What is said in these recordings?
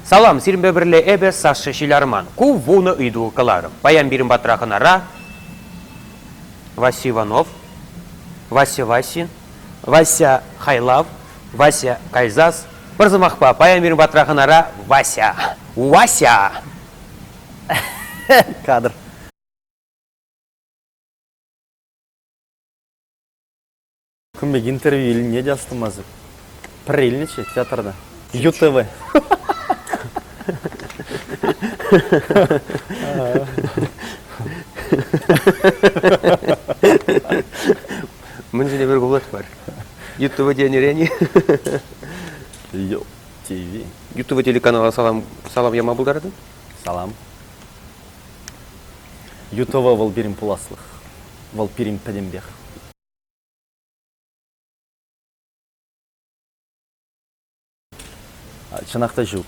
Салам, сирӗнпе пӗрле эпӗ, Саша Ҫилярман. Ку вунӑ ыйту кӑларӑм. Паян пирӗн патра хӑнара Вася Иванов, Вася Васин, Вася Хайлав, Вася Кайзас. Пӗр сӑмахпа, паян пирӗн патра хӑнара Вася. Вася! Кадр. Кун пек интервью илни те астумастӑп. Пӗр илнӗччӗ театрта. ЮТВ. Мӗн ҫине пӗр кулать мар. ЮТВ тенӗрен-и? ЮТВ. ЮТВ телеканала салам, салам яма пултаратӑн? Салам. ЮТВ вӑл пирӗн пуласлӑх. Вӑл пирӗн пӗтӗмпех. Чӑнах та ҫук.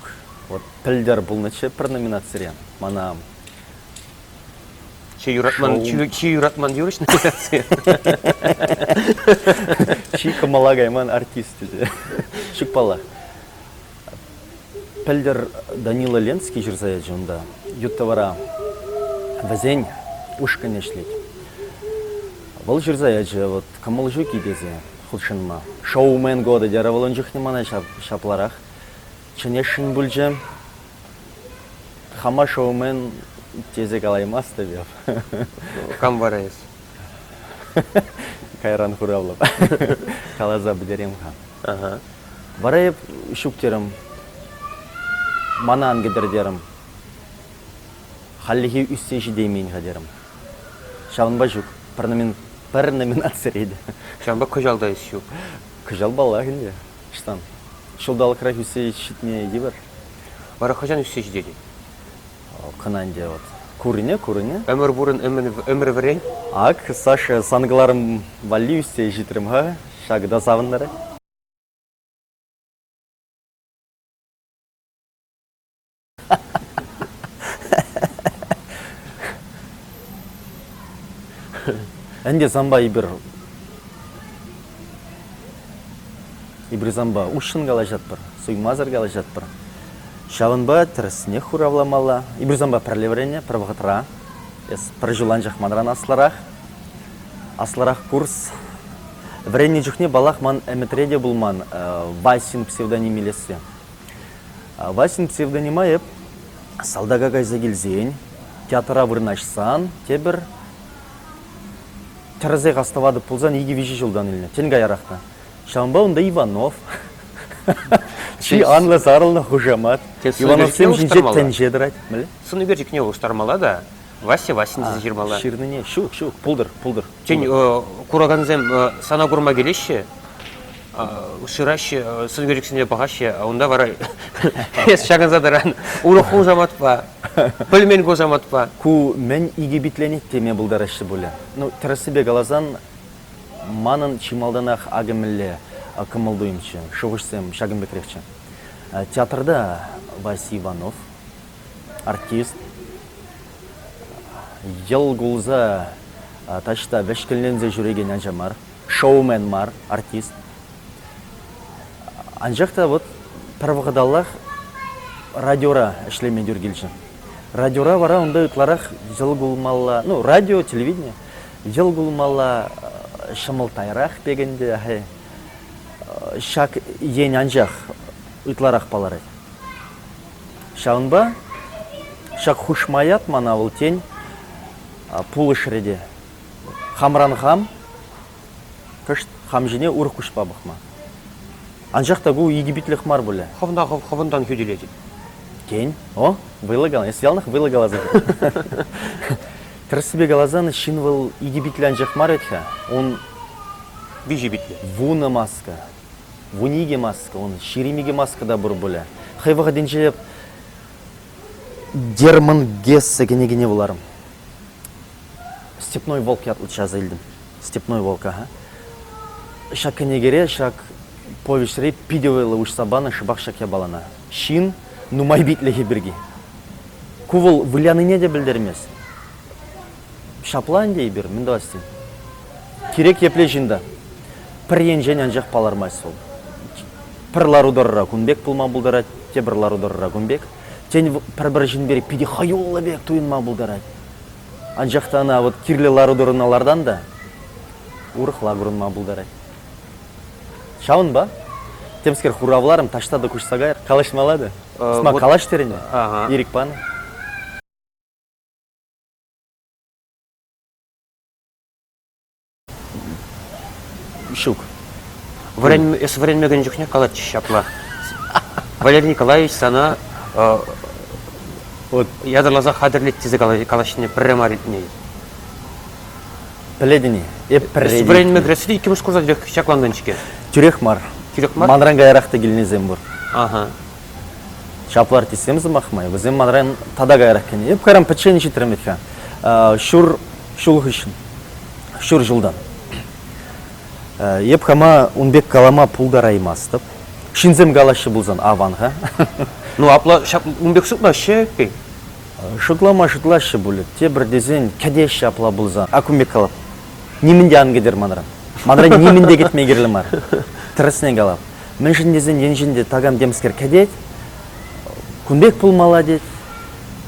Вот пӗлтӗр пулнӑччӗ пӗр номинацире мана Чи юратман, чи, чи юратман юрӑҫ номинаци. Чи кӑмӑла кайман артист. Чукпалах. Пӗлтӗр Данила Ленский ҫырса ячӗ унта ют-тӑвара. Вӗсен ушкӑнӗ ӗҫлет. Вӑл ҫырса ячӗ вот «Кӑмӑл ҫук-и» тесе хутшӑнма. «Шоумен годы» терӗ вӑл ун чухне мана ҫапларах. Чӗнесшӗн пулчӗ. Хама шоумен тесе калаймастӑп эп. Кам вара эс? Кайран хуравлӑп. Каласа пӗтерем-ха. Вара эп ҫук терӗм. Мана ан кӗтӗр терӗм. Хальлӗхе ӳссе ҫитеймен-ха терӗм. Ҫавӑнпа ҫук, пӗр, номин... пӗр номинацире те. Ҫавӑнпа кӑҫал та ӗҫ ҫук. Кӑҫал паллах ӗнтӗ. Ӑҫтан? Ҫулталӑкрах ӳссе ҫитнӗ йывӑр. Вара хӑҫан ӳссе ҫитетӗн? Кӑна ӗнтӗ вот. Курӑнӗ, курӑнӗ. Ӗмӗр пурӑн, ӗмӗр вӗрен. Ак, Саша, сан кӑларӑм валли ӳссе ҫитрӗм-ха. Ҫакӑ та савӑнтарать. Ӗнтӗ санпа эпир эпир санпа уҫҫӑн калаҫатпӑр, суймасӑр калаҫатпӑр. Ҫавӑнпа тӗрӗснех хуравламалла. Эпир санпа пӗрле вӗреннӗ пӗр вӑхӑтра. Эс пӗр ҫул анчах манран аслӑрах. Аслӑрах курс. Вӗреннӗ чухне, паллах, ман ӗмӗтре те пулман Васин псевдоним илесси. Васин псевдонима эп салтака кайса килсен, театра вырнаҫсан, тепӗр тӗрӗсех астӑватӑп пулсан икӗ-виҫӗ ҫултан илнӗ, тен, каярах та. Ҫавӑнпа унта Иванов, чи анлӑ сарӑлнӑ хушамат. Ивановсем ҫинче тӗнче тӑрать. Сӑн ӳкерчӗкне улӑштармалла та Вася Васин тесе ҫырмалла. Ҫырнине ҫук, ҫук, пултӑр, пултӑр. Тен, куракансем сана курма килеҫҫӗ, шыраҫҫӗ, сӑнкерӗксене пӑхаҫҫӗ, а унта вара эс ҫакӑнса тӑран урӑх ку самантпа, пӗлмен ку самантпа. Ку мӗн икӗ питленет теме пултараҫҫӗ пулӗ. Ну, тӗрӗссипе каласан, манӑн чи малтанах акӑ мӗнле кӑмӑл-туйӑмччӗ, шухӑшсем ҫакӑн пекрехчӗ. Театрта Вася Иванов, артист йӑл кулса таҫта вӗҫкӗнленсе ҫӳрекен ача мар, шоумен мар артист. Анчах та вот пӗр вӑхӑталлах радиора ӗҫлеме тӳр килчӗ. Радиора вара унта ытларах йӑл кулмалла, ну радио, телевидение йӑл кулмалла ҫӑмӑлттайрах пек ӗнтӗ. Ҫак ен анчах ытларах палӑрать. Ҫавӑнпа ҫак хушма ят мана вӑл, тен, пулӑшрӗ те. Хамран хам, кӑшт хам ҫине урӑх куҫпа пӑхма. Анчах та ку икӗ питлӗх мар пулӗ. Хӑвна хӑв хӑвӑнтан хӳтӗлетӗп. Тен, о, вӑйлӑ каланӑ, эс яланах вӑйлӑ каласан. Тӗрӗссипе каласан, ҫын вӑл икӗ питлӗ анчах мар вӗт-ха, ун виҫӗ питлӗ. Вунӑ маска, Вун икӗ маска, ун ҫирӗм икӗ маска та пур пулӗ. Хӑй вӑхӑтӗнче эп Дерман Гесса кӗнекене вуларӑм. Степной волк ятлӑччӗ аса илтӗм. Степной волк, аха. Ҫак кӗнекере, ҫак повеҫре питӗ вӑйлӑ уҫса панӑ шӑпах ҫак япалана. Ҫын нумай питлӗхӗ пирки. Ку вӑл вылянине те пӗлтермест. Ҫапла ӗнтӗ эпир, мӗн тӑвасси. Кирек епле ҫын та пӗр енчен анчах палӑрмасть вӑл. Пӗр лару-тӑрӑра кун пек пулма пултарать, тепӗр лару-тӑрӑра кун пек. Тен, пӗр-пӗр ҫын пирки питӗ хӑюллӑ пек туйӑнма пултарать. Анчах та ӑна вот кирлӗ лару-тӑруна лартан та урӑхла курӑнма пултарать. Ҫавӑнпа темскер хуравларӑм, таҫта та куҫса кайӑр, калаҫмалла та. Сӑмах калаҫ терӗн-и? Ирӗк панӑ. Ҫук. Вӗрен... эс вӗренмекен чухне калатчӗҫ ҫапла. Валерий Николаевич сана э, вот. ятарласа хатӗрлет тесе калаҫнине пӗрре мар илтнӗ. Пӗлетӗн-и? Эп пӗрре. Вӗренме кӗресси иккӗмӗш курса тӳрех ҫаклантӑн-ҫке. Тӳрех мар. Тӳрех мар? Манран каярах та килнисем пур. Ага. Ҫапла артистсем сӑмах май, вӗсем манран тата каярах кӗнӗ. Эп кайран пӗччен ҫитрӗм вӗт-ха. Ҫур ҫул хыҫҫӑн, ҫур ҫултан. Эп хама ун пек калама пултараймастӑп. Ҫынсем калаҫҫӗ пулсан аван-ха. Ну апла ун пек шутлаҫҫӗ-и? Шутлама шутлаҫҫӗ пулӗ. Тепӗр тесен кӗтеҫҫӗ апла пулсан. Ак ун пек калап. Нимӗн те ан кӗтер манран. Манран нимӗн те кӗтме кирлӗ мар. Тӗрӗсне калап. мӗншӗн тесен енчен те такам темскер кӗтет, кун пек пулмалла тет,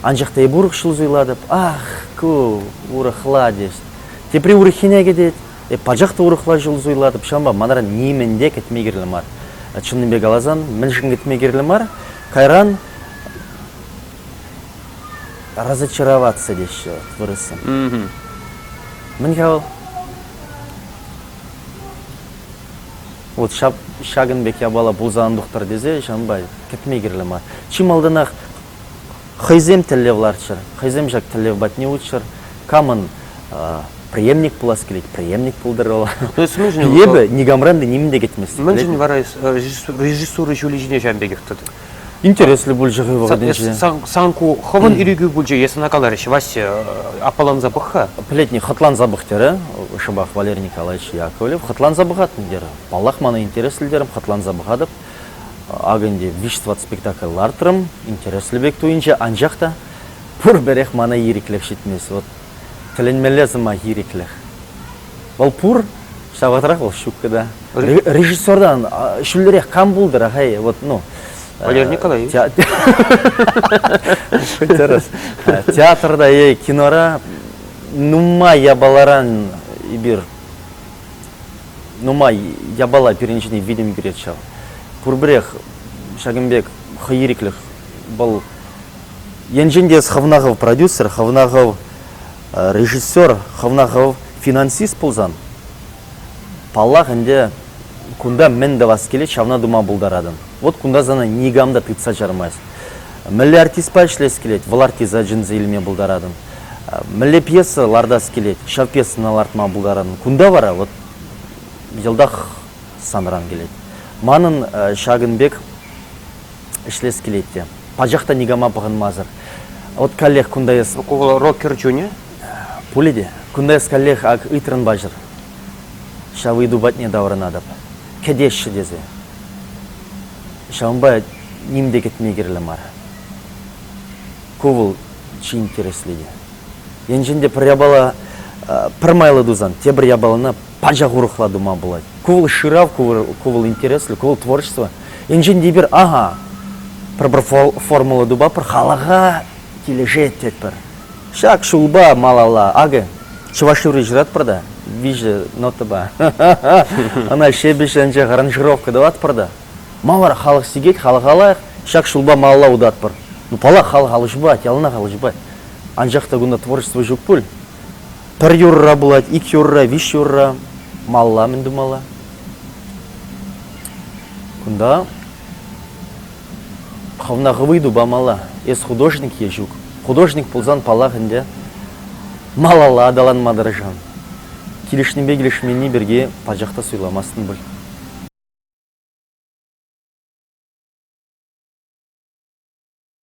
анчах та эп урӑх ҫул суйлатӑп, ах, ку урӑхла тет. Тепри урӑххине кӗтет, эп пачах та урӑхла ҫул суйлатӑп, ҫавӑнпа манран нимӗн те кӗтме кирлӗ мар. Чӑннипе каласан, мӗншӗн кӗтме кирлӗ мар? Кайран разочароваться теҫҫӗ вот вырӑссем. Мӗн-ха вӑл? Вот ҫакӑн пек япала пулсан ан тухтӑр тесе ҫавӑнпа кӗтме кирлӗ мар. Чи малтанах хӑйсем тӗллев лартчӑр, хӑйсем ҫак тӗллев патне утчӑр. Камӑн преемник пулас килет, преемник пултӑрӑла. То есть нужен... Эпӗ никамран та нимӗн те кӗтмест. Мӗншӗн вара режиссура ҫулӗ ҫине ҫавӑн пекех тӑтӑр? Интереслӗ пулчӗ хӑй вӑхӑтӗнче. Сан ку хӑвӑн ирӗкӳ пулчӗ, эс ӑна каларӗҫ. Вася, аппаланса пӑх-ха. Пӗлетни, хӑтланса пӑх, терӗ шӑпах Валерий Николаевич Яковлев. Хӑтланса пӑхатӑн, терӗ. Паллах, мана интереслӗ терӗм, хӑтланса пӑхатӑп. Акӑ ӗнтӗ виҫ-тӑват спектакль лартрӑм, интереслӗ пек туйӑнчӗ, анчах та пурпӗрех мана ирӗклӗх ҫитмест. Вӑт, тӗлӗнмелле сӑмах, ирӗклӗх. Вӑл пур, ҫав вӑхӑтрах вӑл ҫуккӑ та. Режиссертан ҫӳлерех кам пултӑр-ха, хай вот, ну. Валерий Николаевич. Тӗрӗс. Театрта е кинора нумай япаларан эпир нумай япала пирӗнҫине витӗм кӳрет ҫав. Пурпӗрех ҫакӑн пек хӑй ирӗклӗх вӑл енчен те хӑвна хӑв продюсер, хӑвна хӑв Режиссер хӑвна хӑв финансист пулсан, паллах ӗнтӗ, кунта мӗн тӑвас килет, ҫавна тума пултаратӑн. Вот кунта сана никам та тытса чармасть. Мӗнле артистпа ӗҫлес килет, вӑл артиста чӗнсе илме пултаратӑн. Мӗнле пьеса лартас килет, ҫав пьесӑна лартма пултаратӑн. Кунта вара вот йӑлтах санран килет. Манӑн ҫакӑн пек ӗҫлес килет те. Пачах та никама пӑхӑнмасӑр. Вот каллех кунта эс... Рок кӗр чунӗ? Пулӗ те. Кунта эс каллех ак ыйтрӑн паҫӑр. Ҫав ыйту патне таврӑнатӑп. Кӗтеҫҫӗ тесе. Ҫавӑнпа ним те кӗтме кирлӗ мар. Ку вӑл чи интересли те. Енчен те пӗр япала пӗр майлӑ тусан, тепӗр япалана пачах урӑхла тума пулать. Ку вӑл шырав, ку вӑл интереслӗ, ку вӑл творчество. Енчен те эпир, ага, пӗр-пӗр формула тупатпӑр, халӑха килӗшет тетпӗр. Ҫак ҫулпа малалла, акӑ, чӑваш юрри ҫыратпӑр та, виҫӗ нотӑпа. Ӑна ҫепӗҫ анчах аранжировка тӑватпӑр та. Мавар халӑх сикет, халӑха лайӑх, ҫак ҫулпа малалла утатпӑр. Ну, паллах, халӑх алӑ ҫупать, яланах алӑ ҫупать. Анчах та кунта творчество ҫук пуль. Пӗр юрра пулать, ик юрра, виҫ юрра. Малла мӗн тумалла? Кунта хӑвна хӑвӑй тупамалла. Эс художник е ҫук? Художник пулсан, паллах ӗнтӗ, малалла аталанма тӑрӑшам. Килӗшнипе килӗшменни пирки пачах та суйламастӑн пуль.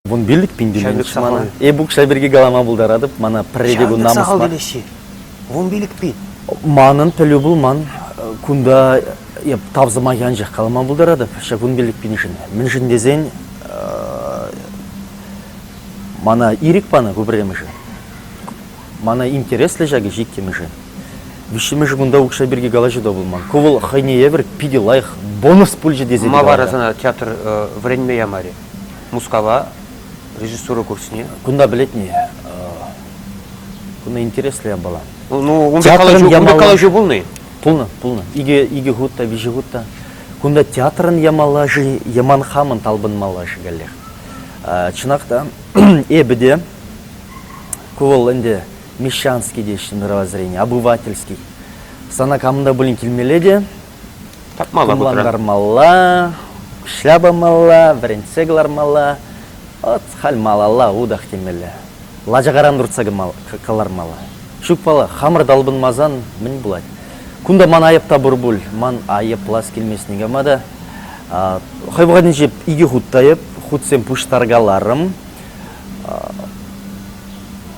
Вун пиллӗк пин тӳленӗччӗ мана. Эп укҫа пирки калама пултаратӑп, мана пӗрре те кун намӑс сахал мар. телеҫҫи. Вун пилӗк пин. Манӑн пӗлӳ пулман. Кунта эп тав сӑмахӗ анчах калама пултаратӑп ҫак вун пиллӗк пиншӗн. Мӗншӗн тесен э, мана ирӗк панӑ ку пӗрремӗшӗ. Мана интереслӗ ҫак ӗҫ иккӗмӗшӗ. Виҫҫӗмӗшӗ кунта укҫа пирки калаҫу та пулман. Ку вӑл хӑйне евӗр питӗ лайӑх бонус пулчӗ тесе те Ма вара калатӑп. сана театр э, вӗренме ямарӗ? Мускава режиссура курсне кунта пӗлетне кунта интереслӗ япала. Ну, ну унти калаҫу, япала... унти калаҫу пулнӑ Пулнӑ, пулнӑ. Икӗ, икӗ хут та, виҫӗ хут та. Кунта театрӑн ямалла-ши, яман хамӑн талпӑнмалла-ши каллех. Чӑнах та, эпӗ те, ку вӑл ӗнтӗ мещанский теҫҫӗ мировоззрение, обывательский. Сана камӑнта пулин килмелле те, Тапмалла Тумлантармалла, шляпамалла, вӗрентсе кӑлармалла, ӑс-халь малалла утах темелле. Лачакаран туртса кӑлармалла. Ҫукпала, хамӑр талпӑнмасан мӗн пулать? Кунта ман айӑп та пур пуль. Ман айӑплас килмест никама та. Хӑй вӑхӑтӗнче икӗ хут та айӑп, хутсем пуҫтаркаларӑм.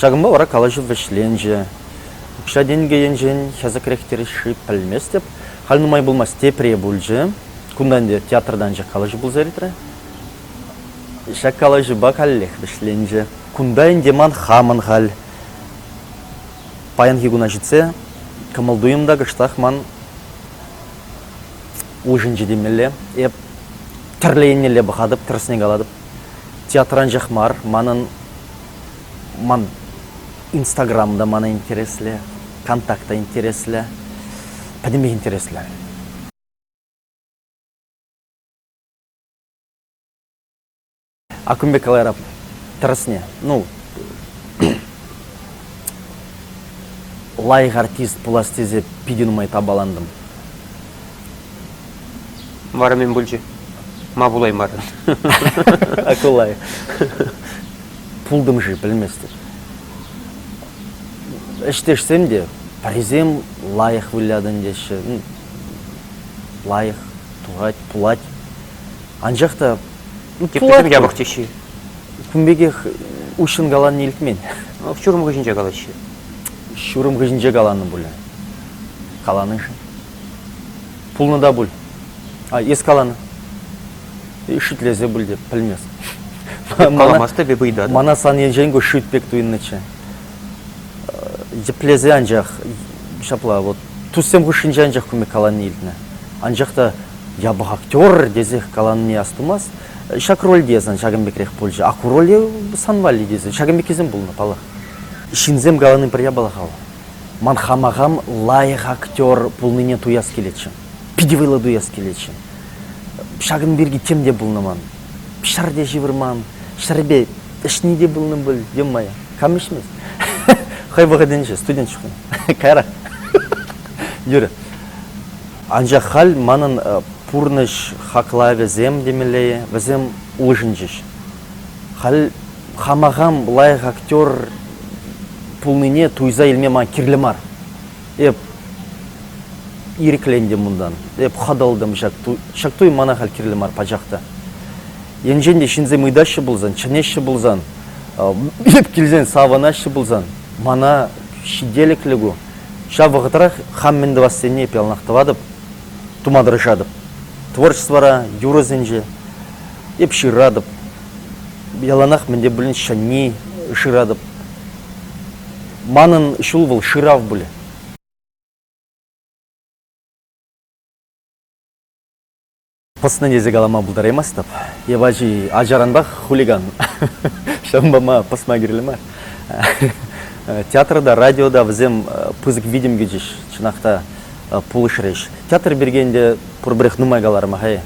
Ҫакӑнпа вара калаҫу вӗҫленчӗ. Укҫа-тенкӗ енчен хӗсӗкрех тӗлӗшши пӗлместӗп. Халь нумай пулмасть тепре пулчӗ. Кунта ӗнтӗ театртанчӑк калаҫу пулса иртрӗ. Ҫак калаҫупа каллех вӗҫленчӗ. Кунта ӗнтӗ ман хамӑн халь. Паянхи куна ҫитсе кӑмӑл-туйӑм та кӑштах ман улшӑнчӗ темелле. Эп тӗрлӗ еннелле пӑхатӑп, тӗрӗсне калатӑп. Театранчах мар, манӑн ман Инстаграм та ман интереслӗ, контакт та интереслӗ, пӗтӗмпех интереслӗ. А кун пек калайра тӗрӗсне, ну, лайӑх артист пулас тесе питӗ нумай тапалантӑм. Вара мӗн пулчӗ? Ма пулаймарӑн? Акулай. Пултӑм-ши, пӗлместӗп. Ӗҫтешсем те, пӗрисем лайӑх вылятӑн теҫҫӗ. Лайӑх турать, пулать. Анчах та Теприсем япӑх теҫҫӗ. Кун пекех уҫҫӑн калани илтмен. Ҫурӑм хыҫӗнче калаҫҫӗ. Ҫурӑм хыҫӗнче каланӑ пулӗ. Каланӑ-ши? Пулнӑ та пуль. А эс каланӑ. Шӳтлесе пуль те, пӗлмест. Каламас тӗпе пыйтат. Мана сан енчен ку шӳт пек туйӑннӑччӗ. Йӗплесе анчах ҫапла вот туссем хушшинче анчах кумек калани илтнӗ. Анчах та япӑх актер тесех калани астумас. Ҫак рольте сан ҫакӑн пекрех пулчӗ. А ку роле сан валли тесе ҫакӑн пеккисем пулнӑ, паллах. Ҫынсем калани пӗр япала-ха вӑл. Ман хама хам лайӑх актер пулнине туяс килетчӗ. Питӗ вӑйлӑ туяс килетчӗ. Ҫакӑн пирки тем те пулнӑ ман. Ҫӗр те ҫывӑрман, ҫӗрпе ӗҫни те пулнӑ пуль, ё-мое, кам ӗҫмест? Хӑй вӑхӑтӗнче студент чухне. Кайрах. Юрӗ. Анчах халь манӑн пурнӑҫ хаклавӗсем темелле, вӗсем улшӑнчӗҫ. Халь хама хам лайӑх актер пулнине туйса илме ман кирлӗ мар. Эп ирӗклентӗм унтан, эп хӑтӑлтӑм ҫак туй, ҫак туй мана халь кирлӗ мар пачах та. Енчен те ҫынсем ыйтаҫҫӗ пулсан, чӗнеҫҫӗ пулсан, эп килсен савӑнаҫҫӗ пулсан, мана ҫителӗклӗ ку. Ҫав вӑхӑтрах хам мӗн тӑвассине эп яланах тӑватӑп, тума тӑрӑшатӑп. Творчествӑра, юрӑсенче Эп ҫыратӑп. Яланах мӗн те пулин ҫӗнни шыратӑп. Манӑн ҫул вӑл шырав пулӗ. Пӑснӑ тесе калама пултараймастӑп. Эп ачи ачаранпах хулиган. Ҫавӑнпа ма пӑсма кирлӗ мар. Театрта, радиота вӗсем пысӑк витӗм кӳчӗҫ. Чӑнах та пулӑшрӗҫ. Театр пирки ӗнтӗ пурпӗрех нумай каларӑм-ха-и.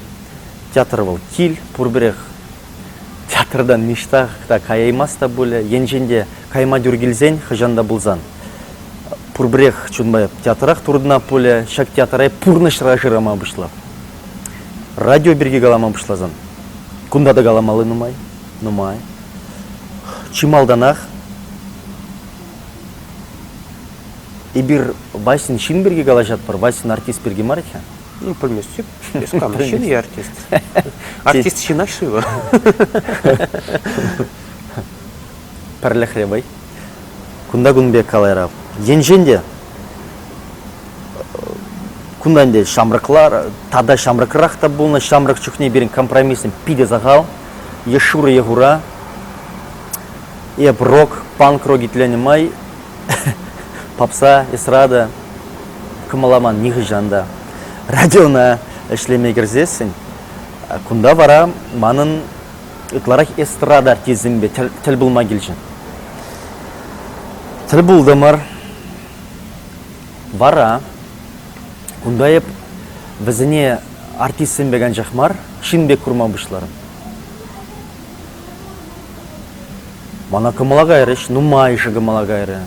Театр вӑл кил, пурпӗрех. Театртан ниҫта та каяймасть та пулӗ, енчен те кайма тӳр килсен, хӑҫан та пулсан. Пурпӗрех чунпа театрах туртӑнап пулӗ, ҫак театра пурнӑҫра шырама пуҫлап. Радио пирки калама пуҫласан, кунта та каламалли нумай, нумай. Чи малтанах эпир Васьӑн ҫын пирки калаҫатпӑр, Васьӑн артист пирки мар иккен. Ну, пӗлместӳп. Эс кам, ҫын я артист. Артист ҫынах-ши Пӗрлӗхре вӑй. Кунта кун пек калайрав. Енчен те кунтан те ҫамрӑклар тата ҫамрӑкрах та пулнӑ. Ҫамрӑк чухне пирӗн компромиссем питӗ сахал. Е шурӑ е хура. Эп рок, панк рок итленӗ май Попса, эстрада кӑмӑламан нихӑҫан та. Радиона ӗҫлеме кӗрсессӗн, кунта вара манӑн ытларах эстрада артистсемпе тӗл, тӗл пулма килчӗ. Тӗл пултӑмӑр. Вара кунта эп вӗсене артистсем пек анчах мар, ҫын пек курма пуҫларӑм. Мана кӑмӑла кайрӗҫ, нумайӑшӗ кӑмӑла кайрӗ.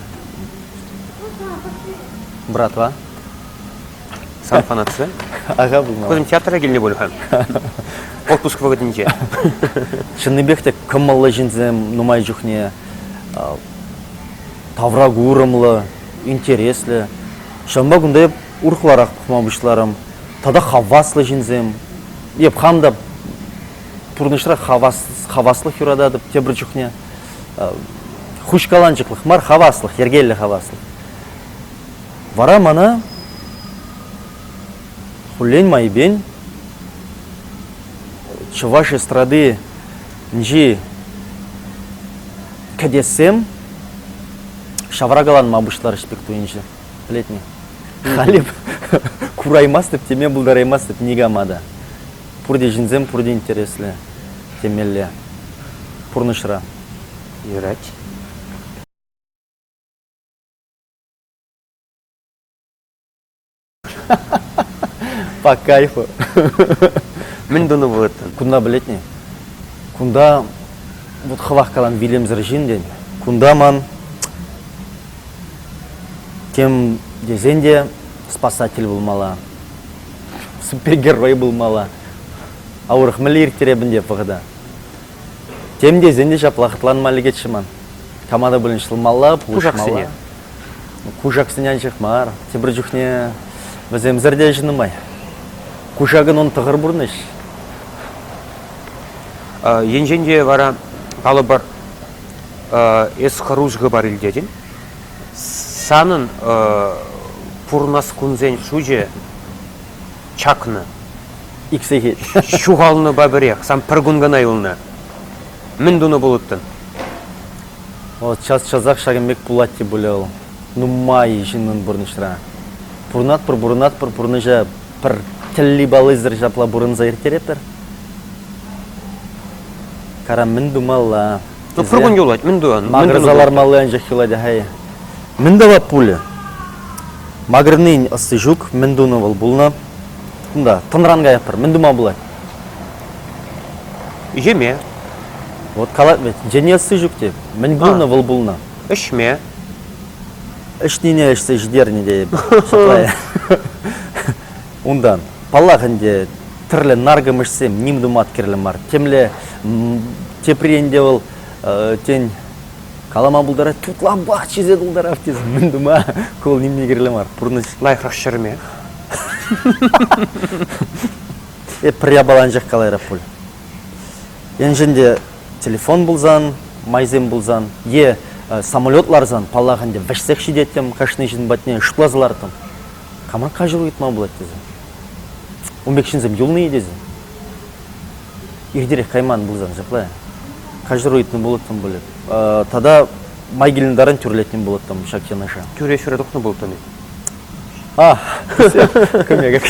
Братва? Сан фанатсем? Аха пулмалла. Кусем театра килнӗ пуль-ха. Отпуск вӑхӑтӗнче. Чӑннипех те кӑмӑллӑ ҫынсем нумай чухне тавра курӑмлӑ, интереслӗ. Ҫавӑнпа кунта эп урӑхларах пӑхма пуҫларӑм. Тата хаваслӑ ҫынсем. Эп хам та пурнӑҫра хаваслӑх юрататӑп тепӗр чухне. Хуҫкаланчӑклӑх мар, хаваслӑх, йӗркеллӗ хаваслӑх. Вара мана хуллен майӗпен чӑваш эстрадинчи кӗтессем ҫавракаланма пуҫларӗҫ пек туйӑнчӗ. Пӗлет-и? Халӗ кураймастӑп, теме пултараймастӑп никама та. Пурте ҫынсем пурте интереслӗ темелле пурнӑҫра. Юрать. По кайфу. Мӗн тунӑ пулӑттӑн? Кунта пӗлет-ни? Кунта вот хӑвах калан вилӗмсӗр ҫын тен. Кунта ман тем тесен те спасатель пулмалла. Супергерой пулмалла. А урӑх мӗнле ирттереп ӗнтӗ вӑхӑта? Тем тесен те ҫапла хӑтланма лекетчӗ ман. Кама та пулин ҫӑлмалла, пулӑшмалла. Кушаксене анчах мар, тепӗр чухне вӗсемсӗр те ӗҫ нумай. Кушакӑн он тӑхӑр пурнӑҫ. Енчен те вара, калӑпӑр, эс хӑрушӑ хыпар илтетӗн? Санӑн пурӑнас кунсен шучӗ чакнӑ. Ик сехет. Ҫухалнӑпа пӗрех. Сан пӗр кун кӑна юлнӑ. Мӗн тунӑ пулӑттӑн? Вӑл час-часах ҫакӑн пек пулать те пулӗ вӑл. Нумай ҫыннӑн пурнӑҫра. Пурӑнатпӑр, пурӑнатпӑр, пурнӑҫа пӗр тӗлли-паллисӗр ҫапла пурӑнса ирттеретпӗр. Кара, мӗн тумалла? Тӑпрӑ кун юлать, мӗн туян? Макӑрса лармалли анчах юлать-ха-и? Мӗн тӑвать пулӗ? Макӑрнин ӑсти ҫук. Мӗн тунӑ вӑл пулнӑ? Кунта, тӑнран каятпӑр. Мӗн тума пулать? Йӗме. Вот калать вӗт, Женя ӑсти ҫук те. Мӗн пулнӑ вӑл пулнӑ? Ӗҫме. Ӗҫнине ӗҫсе ҫитернӗ тейӗп. Унтан. Паллах ӗнтӗ, тӗрлӗ наркӑмӑшсем ним тума кирлӗ мар. Темле тепрен те вӑл тен калама пултарать, тутланпах чизе тултарав тесе мӗн тума, ку вӑл нимне кирлӗ мар. Пурнӑҫ. Лайӑхрах ҫӗрме. Эп пӗр япаланчӑк калайрап пуль. Енчен те телефон пулсан, майсем пулсан е самолет ларсан, паллах ӗнтӗ, вӗҫсех ҫитеттӗм кашни ҫын патне, шутласа лартӑм. Кама каҫару ыйтма пулать тесе? Ун пек ҫынсем юлнӑ-и тесе? Иртерех кайман пулсан ҫапла. Каҫару ыйтнӑ пулӑттӑм пулӗ. Тата май килнӗ таран тӳрлетнӗ пулӑттӑм ҫак юнӑша. Тӳре ҫӳре тухнӑ пулӑттӑм-и? А, кӗмекек.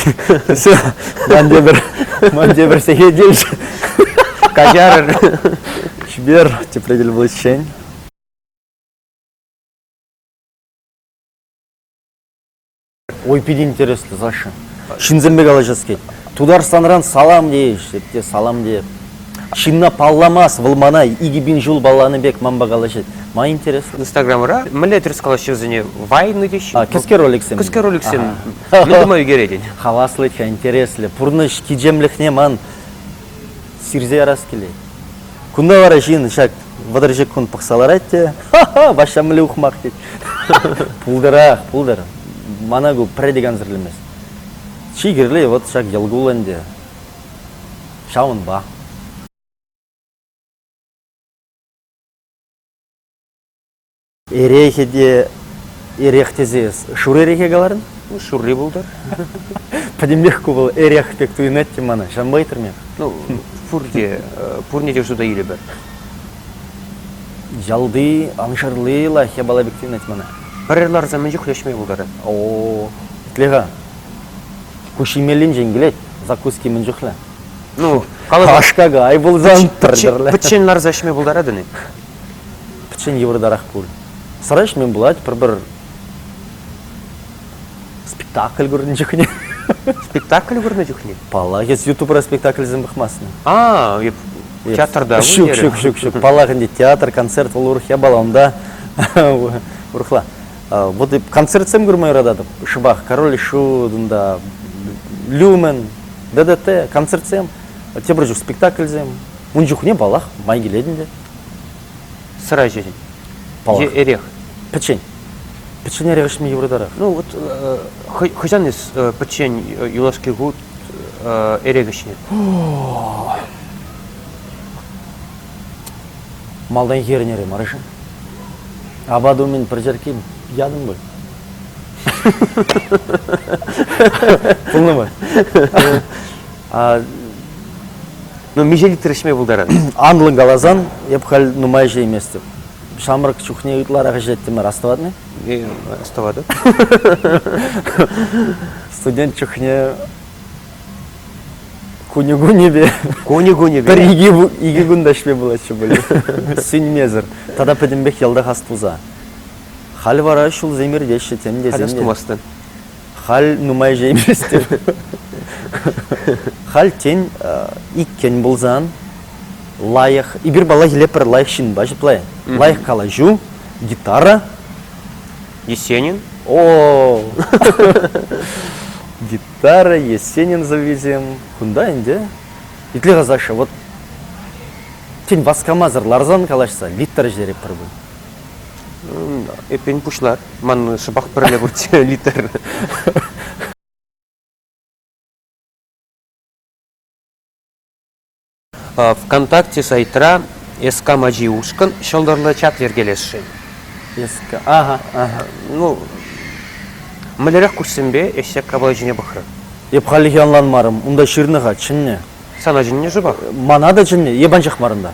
Все, ман тепӗр, ман тепӗр сехет илчӗ. Каҫарӑр. Чипер, тепле кил пуличчен. Ой, питӗ интереслӗ, Саша. Ҫынсемпе калаҫас килет. Тутарстанран салам тейӗҫ те салам тейӗп. Ҫынна палламас, вӑл мана икӗ пин ҫул палланӑ пек манпа калаҫать. Ма интереслӗ? Инстаграмра мӗнле тӗрӗс калаҫҫӗ вӗсене? Вайнӑ теҫҫӗ. А, кӗске роликсем. Кӗске роликсем. Мӗн тума ӳкерет? Хаваслӑ-ха, интереслӗ. Пурнӑҫ кичемлӗхне ман сирсе ярас килет. Кунта вара ҫын ҫак вӑтӑрҫӑк кун пӑхса ларать те ха-ха, Ваҫҫа мӗнле ухмах тет. Пултӑрах, пултӑр. Мана ку пӗрре те кансӗрлемест. Чи кирли вот ҫак йӑл кул ӗнтӗ. Ҫавӑнпа. Эрехе те эрех тесе шур эрехе каларӑн? Ну, шурри пултӑр. Пӗтӗмлех ку вӑл эрех пек туйӑнать те мана. Ҫанпа ыйтрӑм эп. Ну, пурте, пурне те шута илӗпӗр. Ялти аншарли лайӑх япала пек туйӑнать мана. Пӗр ларса мӗн чухлӗ ӗҫме пултарать. О, итле-ха. Ку ҫимеллинчен килет, закуски мӗн чухлӗ. Ну, каласа... Аш-какай пулсан, пӗртӗрле. Пӗччен ларса ӗҫме пултаратӑн-и? Пӗччен йывӑртарах пуль. Сӑра ӗҫмен пулать, пӗр-пӗр спектакль курнӑ чухне. Спектакль курнӑ чухне? Паллах, эс ютубра спектакльсем пӑхмастӑн. А, эп театрта Ҫук, ҫук, ҫук, ҫук. Паллах ӗнтӗ, театр, концерт вӑл урӑх япала, унта урӑхла. Вот эп концертсем курма юрататӑп. Шӑпах Король и Шут, унта Люмен, ДДТ, концертсем, тепӗр чух спектакльсем. Ун чухне, паллах, май килет ӗнтӗ. Сӑра ӗҫесен. Паллах. Е эрех. Пӗччен. Пӗччен эрех ӗҫме йывӑртарах. Ну вот э, хӑҫан эс э, пӗччен э, юлашки хут э, эрех ӗҫнӗ? Малтан ернӗре марышӑн. Апат умӗн пӗр черкке ятӑм пуль. Пулнӑ мар. Ну, миҫе литр ӗҫме пултарать? Анлӑн каласан, эп халь нумай ӗҫейместӗп. Ҫамрӑк чухне ытларах ӗҫлеттӗмӗр, астӑват-и? Не, астӑватӑп. Студент чухне кунӗ-кунӗпе кунӗ-кунӗпе пӗр икӗ кун та ӗҫме пулатчӗ пуль. Сӳнмесӗр. Тата пӗтӗмпех йӑлтах ас пулса. Халь вара ҫулсем иртеҫҫӗ тем те. Халь ас тумастӑн. Халь нумай ҫейместӗп. Халь, тен, иккен пулсан, лайӑх, эпир паллахиле пӗр лайӑх ҫынпа ҫыплай. Лайӑх калаҫу, гитара. Есенин? О, гитара, Есенин сӑввисем. Кунта ӗнтӗ. Итле-ха, Саша, вот тен васкамасӑр ларсан калаҫса Виктор ӗҫлерӗ пӗр кун. Эппин, пуҫлар. Ман шӑпах пӗрле пурччӗ литр. ВКонтакте сайтра СК мачи ушкӑн ҫӑлтӑрлӑ чат йӗркелесшӗн. СК, ага, ага. Ну, мӗнлерех куҫсемпе ӗҫсек капла ҫине пӑхрӑр? Эп халлӗхе ӑнланмарӑм. Унта ҫырнӑ-ха, чӗннӗ. Сана чӗннӗ-ши пак? Мана та чӗннӗ, эп анчах мар унта.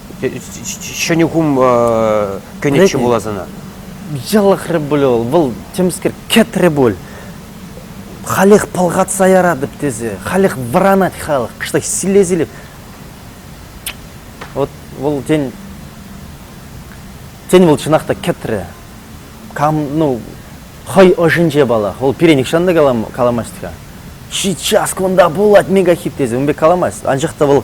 ҫӗнӗ хум кӗнӗччӗ пулас ӑна. Ялахрӗ пулӗ вӑл, вӑл темскер кӗтрӗ пуль. Халех пӑлхатса яратӑп тесе, халех вӑранать халӑх, кӑштах силле-силле. Вот вӑл тен, тен вӑл чӑнах та кӗтрӗ. Кам, ну, хӑй ӑшӗнче палах. Вӑл пире нихҫан та каламасть-ха. Сейчас кунта пулать мегахит тесе, ун пек каламасть. Анчах та вӑл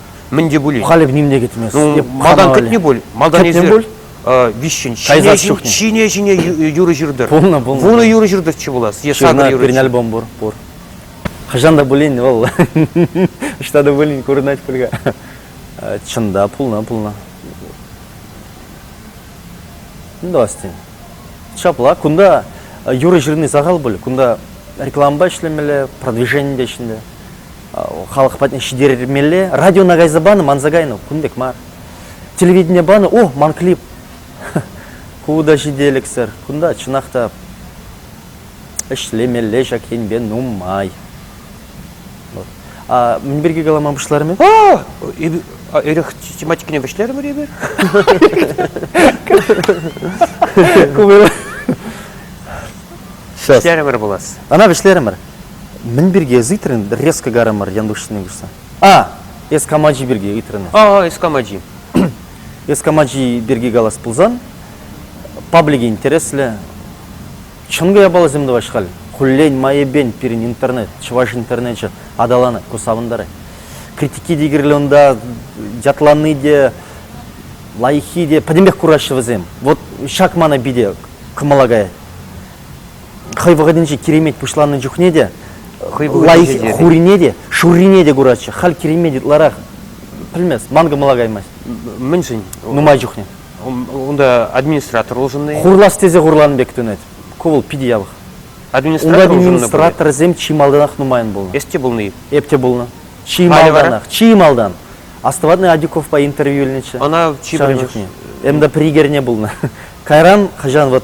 Мӗн те пулин. Халӗ ним те кӗтмест. Ну, малтан кӗтнӗ пуль. Малтан эсир виҫҫӗн ҫине ҫине ҫине юрӑ ҫыртӑр. Пулнӑ, пулнӑ. Пулнӑ юрӑ ҫыртӑрччӗ пулас. Е сакӑр юрӑ. Пирӗн альбом пур, пур. Хӑҫан та пулин вӑл ӑҫта та пулин курӑнать пуль-ха. Чӑн та пулнӑ, пулнӑ. Достин. Ҫапла, кунта юрӑ ҫырни сахал пуль. Кунта рекламӑпа ӗҫлемелле, продвижение те ӗҫлемелле. халӑх патне ҫитермелле радиона кайса панӑ манса кайнӑ кун пек мар телевидение панӑ о ман клип ку та ҫителӗксӗр кунта чӑнах та ӗҫлемелле ҫак енпе нумай вот а мӗн пирки калама пуҫларӑм эпир эрех тематикине вӗҫлерӗмӗр эпир Вӗҫлерӗмӗр пулас ана вӗҫлерӗмӗр Мӗн пирки эс ыйтрӑн резко карӑмӑр Янтуш ҫине куҫса? А! Эс кам ачи пирки ыйтрӑн? А, эс кам ачи? Эс кам ачи пирки калас пулсан, паблик интереслӗ. Чӑн япаласем тӑваҫ халь. Хуллен майӗпен пирӗн интернет, чӑваш интернечӗ аталанать, ку савӑнтарать. Критики те кирлӗ унта, ятлани те, лайӑххи те пӗтӗмпех кураҫҫӗ вӗсем. Вот ҫак мана питӗ кӑмӑла каять. хӑй вӑхӑтӗнче киремет пуҫланнӑ чухне те хӑй вӑхӑтӗнче те хурине те шуррине те куратчӗ халь киремет ытларах пӗлмест ман кӑмӑла каймасть мӗншӗн нумай чухне унта администратор улшӑннӑ хурлас тесе хурланӑ пек тунать ку вӑл питӗ явах администратор унта администраторсем чи малтанах нумайӑн пулнӑ эс те пулнӑ-и эп те пулнӑ чи малтанах чи малтан Островатный Адюковпа интервью илнӗччӗ ӑна чи пӗрре чухне МДП егерьне пулнӑ кайран хӑҫан вот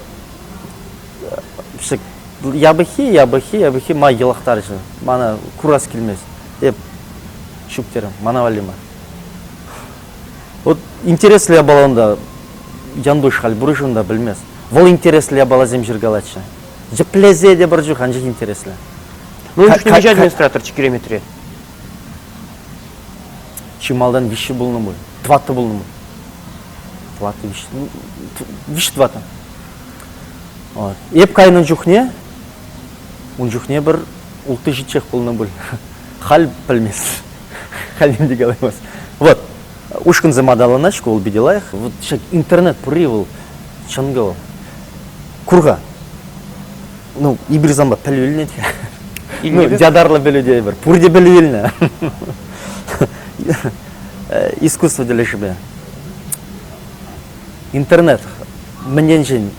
япӑххи, япӑххи, япӑххи май йӑлахтарчӗ. Мана курас килмест. Эп ҫук терӗм, мана валли мар. Вот интереслӗ япала унта. Янтуш халь пур-и унта, пӗлмест. Вӑл интереслӗ япаласем ҫыркалатчӗ. Йӗплесе те пӗр чух анчах интереслӗ. Ну, ӗҫ пымӗҫ администраторччӗ Киреметре. Чи малтан виҫҫи пулнӑ пуль. Тӑваттӑ пулнӑ пуль. Тӑваттӑ, виҫҫи, виҫҫи тӑваттӑ. Эп кайнӑ чухне ун чухне пӗр ултти ҫиччех пулнӑ пуль. Халь пӗлмест. Халь ним те калаймасть. Вот, ушкӑнсем аталанать шкул питӗ лайӑх. Вот ҫак интернет пурри вӑл чӑнкӑ вӑл. Кур-ха. Ну, эпир санпа пӗлӳ илнӗ-тхе. Ну, ятарлӑ пӗлӳ тейӗпӗр. Пурте пӗлӳ илнӗ. Искусство тӗлӗшӗпе. Интернет мӗн енчен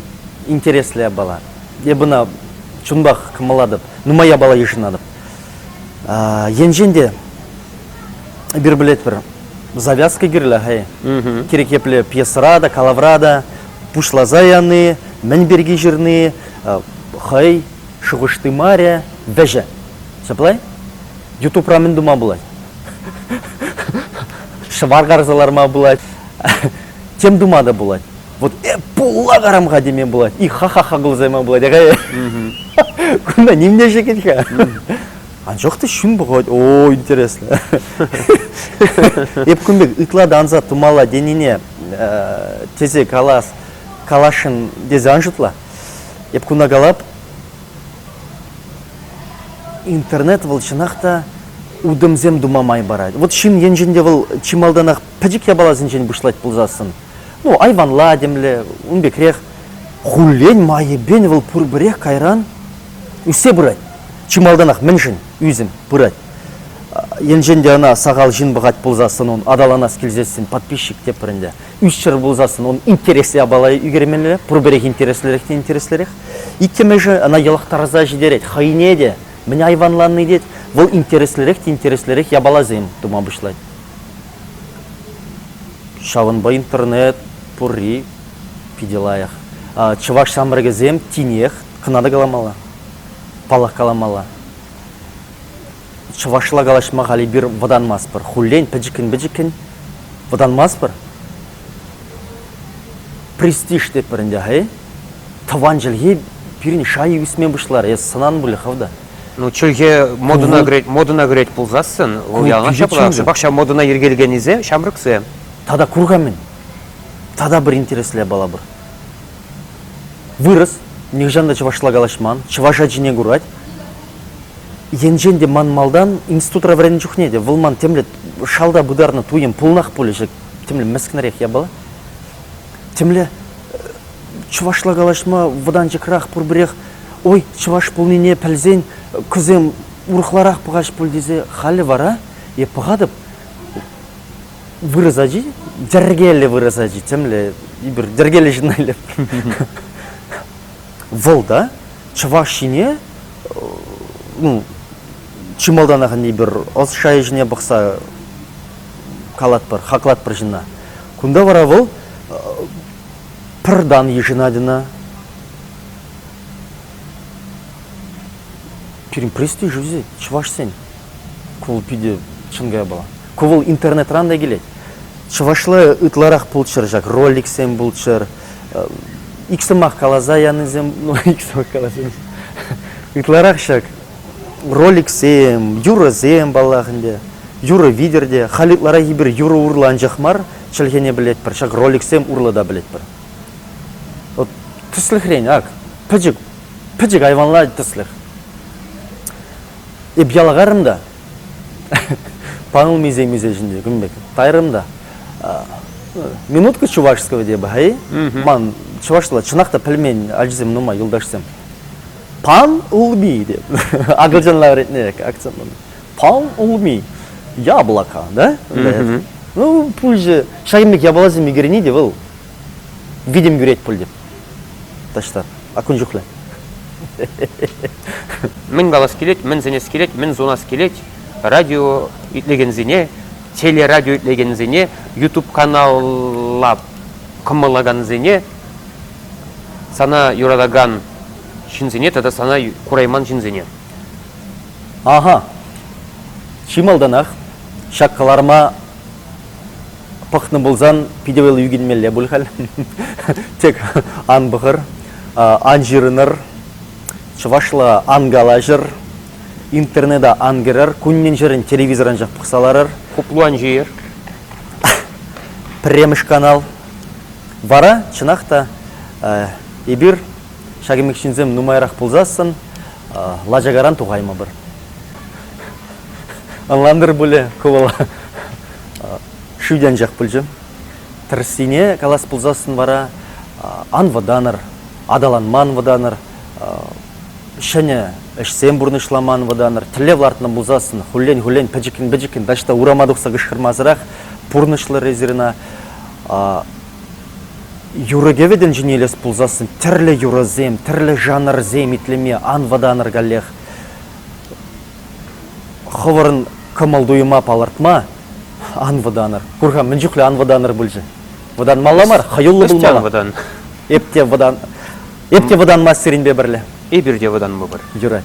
интереслӗ япала? Эп ӑна чунпах кӑмӑллатӑп, нумай япала йышӑнатӑп. Енчен те эпир пӗлетпӗр, завязка кирлӗ-ха. Кирек епле пьесӑра та, калавра та пуҫласа яни, мӗн пирки ҫырни хӑй шухӑш тымарӗ, вӗҫӗ. Ҫаплай? Ютубра мӗн тума пулать? Шӑвар карса ларма пулать. Тем тума та пулать. Вот э пулла карам-ха теме пулать. И ха-ха-ха кулсайма пулать. Акай. Кунта нимне шекет-ха. Анчах та ҫын пӑхать, о, интересно. Эп кун пек ытла да ансат тумала денине тесе калас, каласшын тесе ан шутла. Эп куна калап, Интернет вӑл чӑнах та утӑмсем тума май парать. Вот ҫын енчен те вӑл чи малтанах пӗчӗк япаласенчен пуҫлать пулсассӑн, ну, айванла темле, ун пекрех, хуллен майӗпен вӑл пурпӗрех кайран ӳссе пырать. Чи малтанах мӗншӗн ӳсӗм пырать? Енчен те ӑна сахал ҫын пӑхать пулсассӑн, ун аталанас килсессӗн подписчик те пӗр ӗнтӗ. Ӳсчӗр пулсассӑн он интереслӗ япала ӳкермелле, пурпӗрех интереслӗрех те интереслӗрех. Иккӗмӗшӗ ӑна йӑлӑхтарса ҫитерет, хӑйне те, мӗн айванланни тет, вӑл интереслӗрех те интереслӗрех япаласем тума пуҫлать. Ҫавӑнпа интернет пурри питӗ лайӑх. Чӑваш ҫамрӑкӗсем тинех кӑна та каламалла, паллах каламалла. чӑвашла калаҫма халь эпир вӑтанмастпӑр. Хуллен пӗчӗккӗн-пӗчӗккӗн вӑтанмастпӑр. Престиж тетпӗр ӗнтӗ, хай. Тӑван чӗлхе пирӗн шайӗ ӳсме пуҫларӗ. Эс сӑнан пулӗ-ха да. Ну, чӗлхе модӑна кӗрет, модӑна кӗрет пулсассӑн, вӑл яланах ҫапла. Шӑпах ҫав модӑна йӗркелекеннисем ҫамрӑксем. Тата кур-ха мӗн. Тата пӗр интереслӗ япала пур. Вырӑс нихӑҫан та чӑвашла калаҫман, чӑваш ачине курать. Енчен те ман малтан институтра вӗреннӗ чухне те вӑл ман темле шалта пытарнӑ туйӑм пулнах пулӗ темле мӗскӗнрех япала. Темле чӑвашла калаҫма вӑтанчӑкрах пурпӗрех ой чӑваш пулнине пӗлсен кӑсем урӑхларах пӑхаҫ пуль тесе халӗ вара е пӑхатӑп Вырӑс ачи йӗркеллӗ вырӑс ачи темле эпир йӗркеллӗ ҫынна илем. Вӑл та чӑваш ене ну чи малтанах эпир ӑс шайӗ ҫине пӑхса калатпӑр хаклатпӑр ҫынна. Кунта вара вӑл пӗр тан йышӑнать ӑна. Пирӗн престиж үзе чӑвашсен. Ку питӗ чӑн каяпала. Ку вӑл интернетран та килет. Чӑвашла ытларах пулччӑр ҫак роликсем пулччӑр. Ик сӑмах каласа янисем, ну ик сӑмах каласа ытларах ҫак роликсем, юрӑсем паллах ӗнтӗ. Юрӑ витӗр те, халь ытларахи пир юрӑ урлӑ анчах мар, чӗлхене пӗлетпӗр, ҫак роликсем урлӑ та пӗлетпӗр. Вот тӗслӗхрен, ак, пӗчӗк, пӗчӗк айванла тӗслӗх. Эп ялгарӑм та, Панулмисе мисе ҫинче кун пек тайрӑм та минутка чувашского деба-ха-и? Ман чӑвашла чӑнах та пӗлмен ачасем нумай юлташсем. Пан улми деп. Акӑлчанла вӗретнӗ акцентӑн. Пан улми. Яблоко, да? Ну, пуҫы шаймик яблося мигрени де вӑл Витӗм кӳрет пуль теп. Таҫта. А кун чухлӗ. Мӗн калас килет, мӗн сӗнес килет, мӗн сунас килет радио итлекенсене, телерадио итлекенсене, YouTube каналла кӑмӑллакансене, сана юратакан ҫынсене тата сана курайман ҫынсене. Аха. Чи малтанах ҫак кӑларӑма пӑхнӑ пулсан питӗ вӑл ӳкӗнмелле пуль халь. Тек ан пӑхӑр, ан ҫырӑнӑр, чӑвашла ан калаҫӑр, интернета ан кӗрӗр, куннен-ҫӗрӗн телевизор анчах пӑхса ларӑр. Хуплан ҫийӗр. Пӗрремӗш канал. Вара, чӑнах та, эпир ҫак ӗмӗк ҫынсем нумайрах пулсассӑн лачакаран тухаймӑпӑр. Ӑнлантӑр пулӗ ку вӑл шӳте анчах пулчӗ. Тӗрӗссине калас пулсассӑн вара ан вӑтанӑр, аталанман вӑтанӑр, ҫӗнӗ ӗҫсем пурнӑҫламан вӑтанӑр. Тӗллев лартнӑ пулсассӑн хуллен-хуллен пӗчӗккӗн-пӗчӗккӗн таҫта урама тухса кӑшкӑрмасӑрах пурнӑҫлӑр эсир ӑна. Юрӑ-кӗвӗ тӗнчине илес пулсассӑн тӗрлӗ юрӑсем, тӗрлӗ жанрсем итлеме ан вӑтанӑр каллех. Хӑвӑрӑн кӑмӑл-туйӑма палӑртма ан вӑтанӑр. Кур-ха, мӗн чухлӗ ан вӑтанӑр пулчӗ. Вӑтанмалла мар, хӑюллӑ Эс те ан пулмалла. вӑтан. Эп те вӑтан... Эп те вӑтанмасть сирӗнпе пӗрле. Эпир те вӑтанмӑпӑр. Юрать.